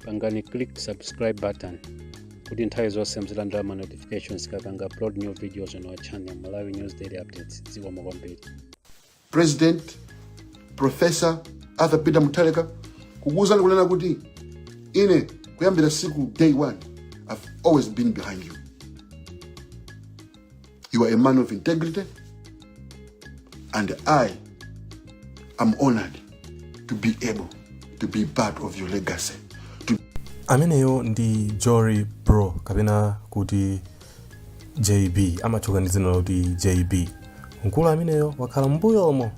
pangani click subscribe button kuti nthawi zonse muzilandira ma notifications tikapanga upload new videos on our channel malawi news daily updates zikomo kwambiri president professor arthur peter mutharika kukuwuzani kunena kuti ine kuyambira siku day one i've always been behind you You are a man of integrity, and I am honored to be able to be part of your legacy. Ameneyo ndi jory bro kapena kuti jb amatchuka ndi dzina loti jb mkulu ameneyo wakhala mbuyomo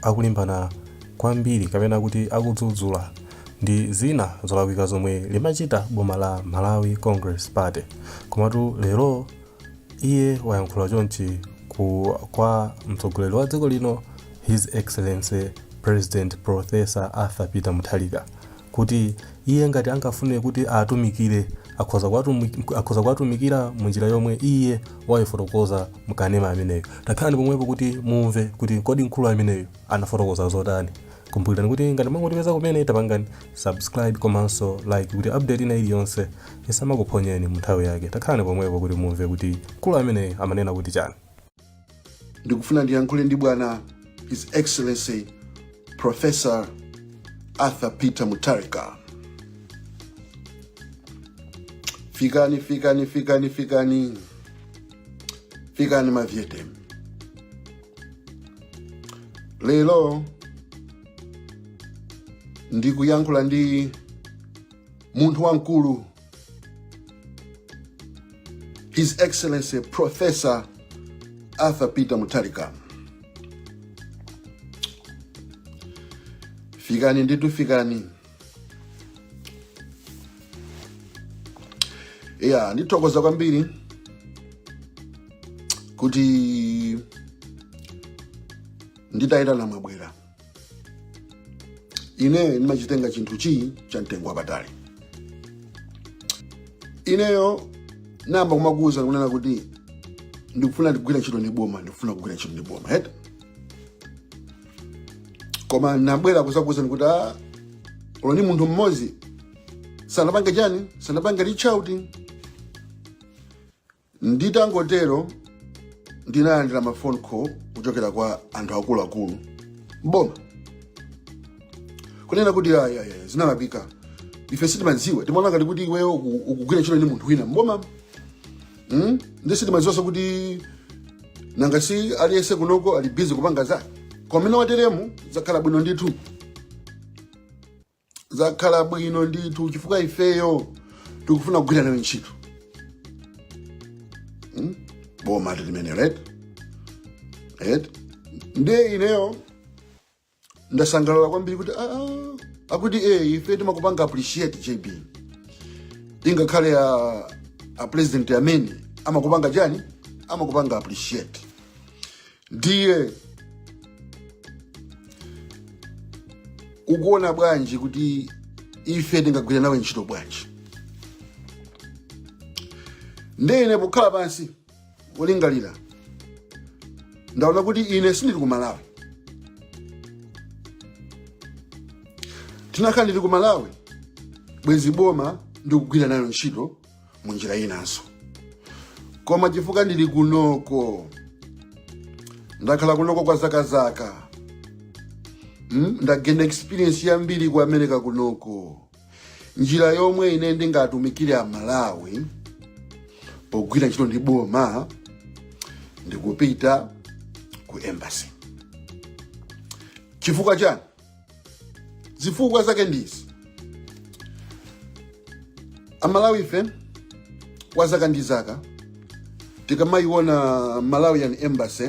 akulimbana kwambiri kapena kuti akudzudzula ndi zina zolakwika zomwe limachita boma la malawi congress party komatu lero iye wayankhula chonchi kwa mtsogoleri wa dziko lino his excellency president professor arthur peter mutharika kuti iye ngati angafune kuti atumikire akhoza kuwatumikira mu njira yomwe iye wayifotokoza mkanema ameneyo takhalani pomwepo kuti mumve kuti kodi mkulu ameneyo anafotokoza zotani kumbukirani kuti ngati mwangotipeza kumene tapangani subscribe komanso like kuti update ina iliyonse isamakuphonyeni mu nthawi yake takhalani pomwepo kuti mumve kuti mkulu ameneyo amanena kuti chani ndikufuna ndiyankhule ndi bwana his excellency professor arthur peter mutharika fikani fikani fikani fikani fikani mavyete lero ndikuyankhula ndi munthu wamkulu his excellency professor arthur peter mutharika fikani nditu fikani ya ndithokoza kwambiri kuti nditayitana mwabwera ine ndimachitenga chinthu chi cha mtengo wapatali ineyo nayamba kumakuwuzani kunena kuti ndikufuna ndigwire ntchito ndi boma ndikufuna kugwira ntchito ndi boma et koma nabwera kuzakuuzani kuti olo ndi munthu mmodzi sanapange chani sanapange reach out nditangotero ndinalandira ma phone call kuchokera kwa anthu akuluakulu mboma kunena kuti ayaya zinalakwika ife sitimadziwa timaona ngati kuti iweyo uku- ukugwira ntchito ndi munthu wina mboma mm? ndi sitimaziwanso kuti nanga si aliyense kunoko ali bizi kupanga zake koma mmene zateremu zakhala bwino ndithu zakhala bwino ndithu chifukwa ifeyo tikufuna kugwira nayo ntchito mm? boma tilimene right right ndiye ineyo ndasangalala kwambiri kuti "Ah, ah, akuti eh, ife timakupanga appreciate jb ingakhale a, a president amene amakupanga chani amakupanga appreciate ndiye ukuona bwanji kuti ife tingagwira nawe ntchito bwanji ndiye ine pokhala pansi kulingalira ndaona kuti ine sindili ku malawi ndinakakhala ndili ku malawi bwenzi boma ndikugwira nayo ntchito mu njira inanso koma chifukwa ndili kunoko ndakhala kunoko kwa zakazaka mm? ndagena experience yambiri ku america kunoko njira yomwe ine ndingatumikire amalawi pogwira ntchito ndi boma ndikupita ku embassy chifukwa chani zifukwa zake ndizi amalawife kwa zaka ndi zaka tikamayiona malawian embassy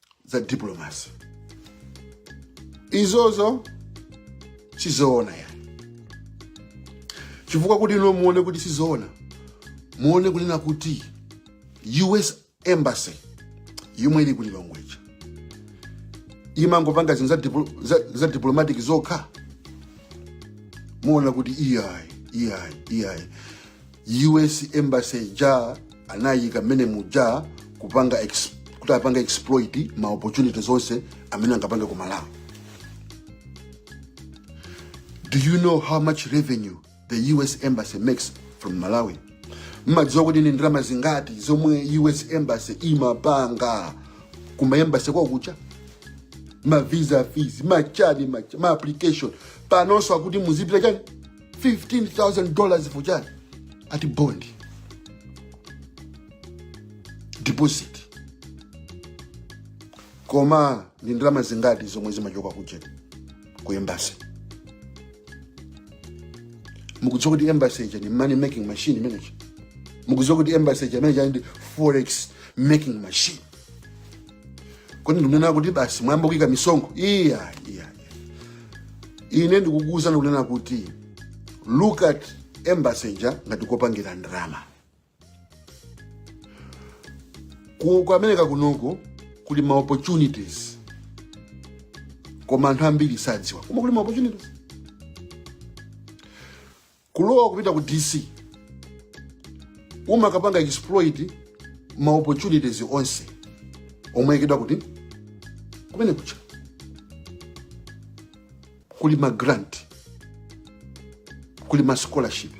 za diplomasi izozo sizoona ayi chifukwa kuti inu muone kuti sizoona muone kunena kuti us embassy yomwe ili ku lilongwe ija imangopanga zinthu za, diplo- za, za diplomatic zokha muona kuti iyayi iyayi iyayi us embassy ija anayika mmene muja kupanga ex, kuti apange exploit ma opportunities onse amene angapange ku malawi do you know how much revenue the us embassy makes from malawi mmadziwa kuti ni ndalama zingati zomwe us embassy imapanga ku maembasi pakutchaja ma visa fees machani ma application panonso akuti muzilipira chani 15000 dollars for chani ati bond deposit koma ndi ndalama zingati zomwe zimachoka kuja ku embassy mukudziwa kuti embassy ija ndi money making machine imene ija mukudziwa kuti embassy ija imene ija ndi forex making machine kodi ndikunene kuti basi mwayamba kuika misonkho iyayi iyayi ine ndikukuwuzani kunena kuti look at embassies ngati kopangira ndalama ku ku america kunoko kuli ma opportunities koma anthu ambiri sadziwa koma kuli ma opportunities kulolo kupita ku dc umakapanga exploit ma opportunities onse omwe ali ku dakuti kumenekuja kuli ma grant kuli ma scholarship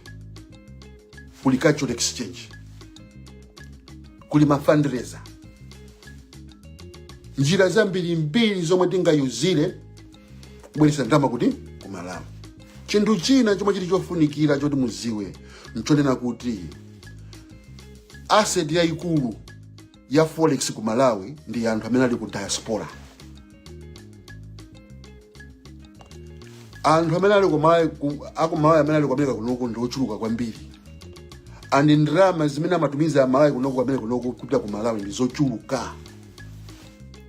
kuli cultural exchange kuli ma fundraiser njira zambiri mbiri zomwe tingayuzire kubweretsa ndalama kuti ku malawi chinthu china chomwe chili chofunikira choti muziwe nchonena kuti asset yayikulu ya forex ku malawi ndi anthu amene ali ku diaspora anthu amene ali ku Malawi- ku- aku malawi amene ali ku america kunoko ndi ochuluka kwambiri and ndalama zimene amatumiza amalawi kunoko amene kunoko kupita ku malawi ndi zochuluka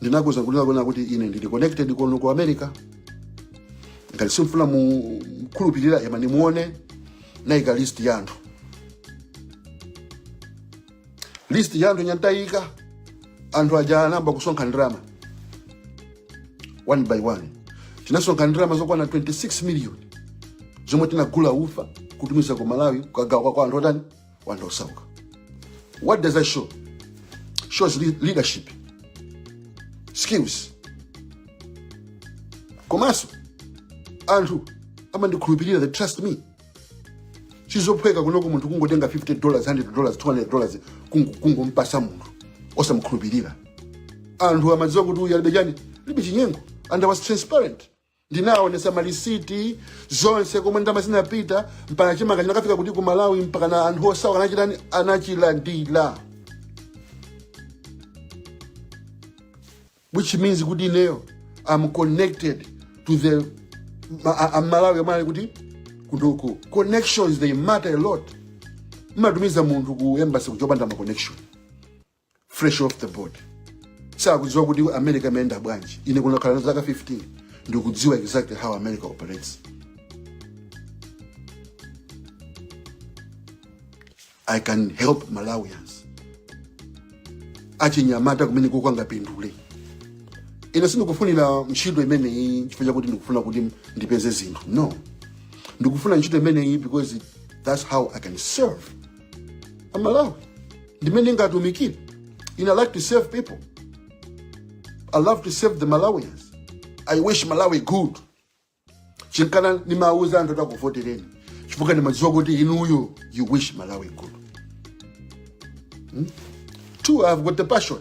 ndinakuuzani kunena kunena kuti ine ndili connected kono ku america ngati simfuna kukhulupirira imani muone naika list ya anthu list ya anthu nditayika anthu aja anayamba kusonkha ndalama one by one tinasonkha ndalama zokwana 26 million zomwe tinagula ufa kutumiza ku malawi kukagawa kwa anthu otani kwa anthu osauka what does that show shows le- leadership skills komanso anthu amandikhulupirira they trust me sizophweka kunoko munthu kungotenga 50 dollars 100 dollars 200 dollars kungo- kungompatsa munthu osamkhulupirira anthu amadziwa kuti uyu alibe chani alibe chinyengo and I was transparent ndinaonesa malisiti zonse komwe ndalama zinapita mpaka chimanga chinakafika kuti ku malawi mpakana anthu osauka anachitani anachilandira which means kuti ineyo am connected to the ma- a- a- malawi omwe ali kuti kunoko connections they matter a lot mmatumiza munthu ku embassy kuchopanda ma connection fresh off the boat sakudziwa kuti america imayenda bwanji ine kuno ndakhala zaka 15 ndikudziwa exactly how america operates i can help malawians achinyamata kumeneko angapindule ine sindikufunira ntchito imeneyi chifukwa chakuti ndikufuna kuti ndipeze zinthu no ndikufuna ntchito imeneyi because that's how i can serve amalawi ndimene ndingatumikire ine i like to serve people i love to serve the malawians i wish malawi good chinkana ndimawauza anthu kuti akuvotereni chifukwa ndimadziwa kuti inuyo you wish malawi good two i've got the passion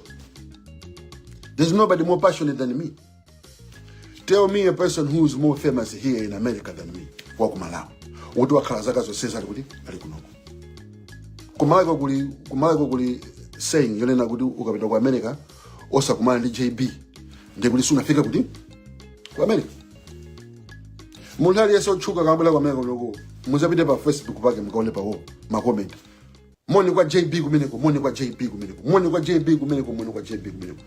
there's nobody more passionate than me tell me a person who is more famous here in america than me wakumalawi woti wakhala zaka zonsezi ali kuti ali kunoko kumalawiko kuli saying yonena kuti ukapita ku america osakumana ndi jb ndiye kuti sunafika kuti ku america munthu aliyense otchuka akamabwera ku america kunoko muzapite pa facebook pake mukaone pawo makomenti Moni kwa JB kumeneko, moni kwa JB kumeneko, moni kwa JB kumeneko, moni kwa JB kumeneko.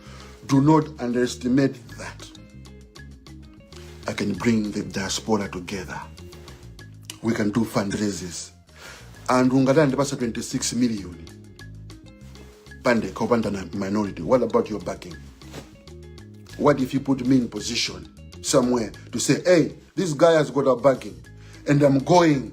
Do not underestimate that. I can bring the diaspora together. We can do fundraisers. And ungadana ndipasa 26 million. Pande kopanda na minority. What about your backing? What if you put me in position somewhere to say, hey, this guy has got a backing and I'm going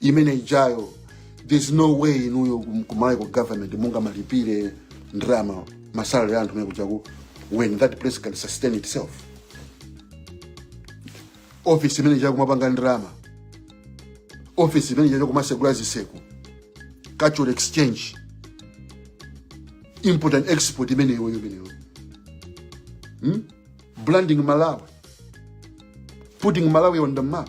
imene ijayo there's no way inuyo kum- kumalaiko government mungamalipire ndrama masalary ya anthu amene kujaku when that place can sustain itself office imene ijayo kumapanga ndrama office imene ijayo kumasegula ziseko cultural exchange import and export imeneyo imeneyo branding malawi putting Malawi on the map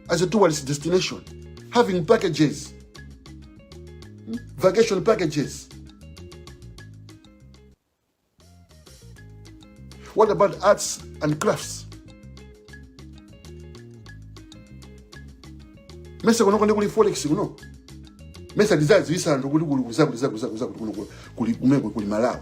as a tourist destination, having packages, vacation packages. What about arts and crafts? mesa kunoko ndi kuli forex kuno mesa tizadziwisa anthu kuti kuli kuti kuno kuli kumeko kuli malawi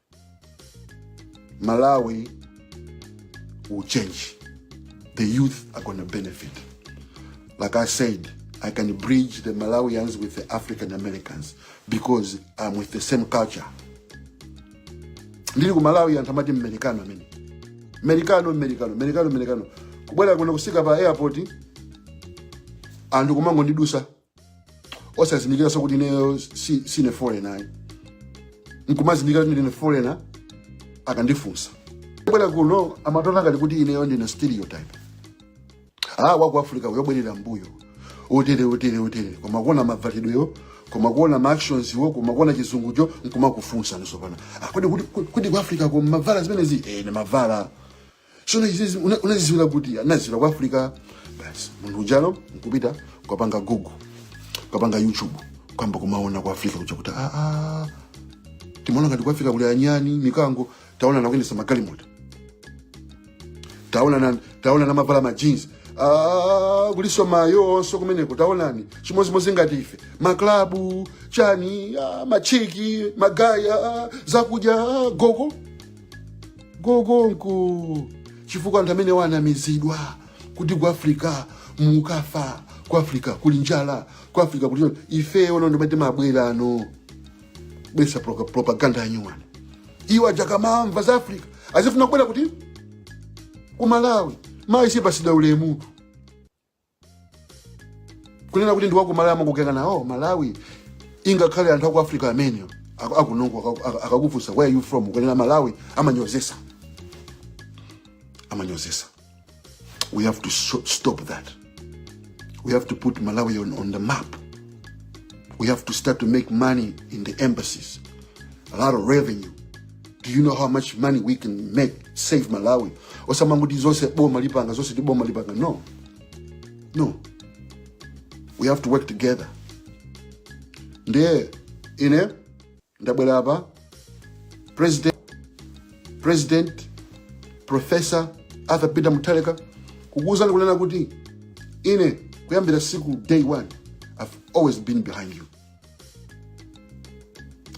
Malawi will change. The youth are going to benefit. Like I said, I can bridge the Malawians with the African Americans because I'm with the same culture. Ndili ku Malawi anthu amati Mmerikano amene. Mmerikano, Mmerikano, Mmerikano, Mmerikano. Kubwera kuno kusika pa airport anthu kumangondidusa osazindikiraso kuti ineyo si- sine foreigner ayi nkumazindikira kuti ndine foreigner akandifunsa kubwera kuno amationa ngati kuti ineyo ndine stereotype ah waku africa uyo obwerera mbuyo utere utere utere koma kuona mavalidwewo koma kuona maactionswo koma kuona chizungucho nkumakufunsa ndi tsopano ah, kodi kuti- kuti ku africa ko mmavala zimenezi eh nimavala so izizi una- unaziziwira kuti ndinaziziwira ku africa basi munthu uja lo nkupita kukapanga google kukapanga youtube kuyamba kumaona ku africa kuja kuti aa timaona ngati ku africa kuli anyani mikango taonani akuyendesa magalimoto taonani taonani amavala majins Ah, kuliso mayoso kumeneko taonani chimodzimodzi ngati ife maklabu chani ah, machiki magaya ah, zakudya ah, gogo gogonko chifukwa anthu amene wanamizidwa kuti ku africa mukafa ku africa kuli njala ku africa kuli ifeyo no ndimati muzabweranso besa pro- propaganda yanyuwani iwo aja akamamva za africa aziti kufuna kubwera kuti ku malawi mayi sipasidwa ulemu kunena kuti ndi wa ku malawi amangokeka nawo malawi ingakhale anthu aku africa ameneyo aku- akunongo akaku- aka- akakufunsa where are you from ukanena malawi amanyozesa amanyozesa we have to so- stop that we have to put malawi on, on the map we have to start to make money in the embassies a lot of revenue do you know how much money we can make serve malawi osamangoti zonse boma lipanga zonse ndi boma lipanga no no we have to work together ndiye ine ndabwera apa president president professor arthur peter mutharika kukuuzani kunena kuti ine kuyambira siku day one i've always been behind you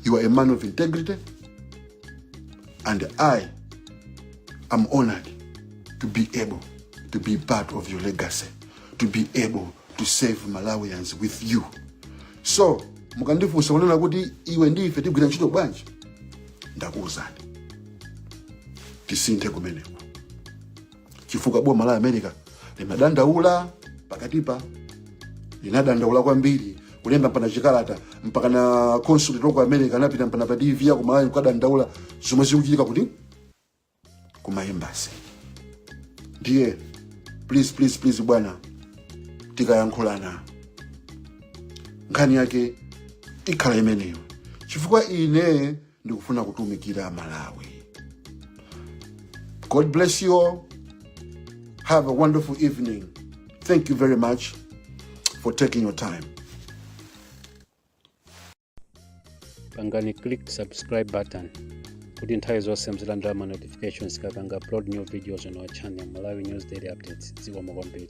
You are a man of integrity, and I am honored to be able to be part of your legacy, to be able to serve Malawians with you. So, mukandifunsa kunena kuti iwe ndi ife tigwira ntchito bwanji, ndakuuzani tisinthe kumeneko. chifukwa boma la america limadandaula pakatipa linadandaula kwambiri kulemba mpana chikalata mpaka na consulate wa ku america anapita mpana pa tv ya kumalawi kukadandaula zomwe zikuchitika kuti kuma embassy ndiye please please please bwana tikayankhulana nkhani yake ikhala imeneyo chifukwa ine ndikufuna kutumikira malawi god bless you all have a wonderful evening thank you very much for taking your time pangani click subscribe button kuti nthawi zonse muzilandira ma notifications tikapanga upload new videos on our channel malawi news daily updates zikomo kwambiri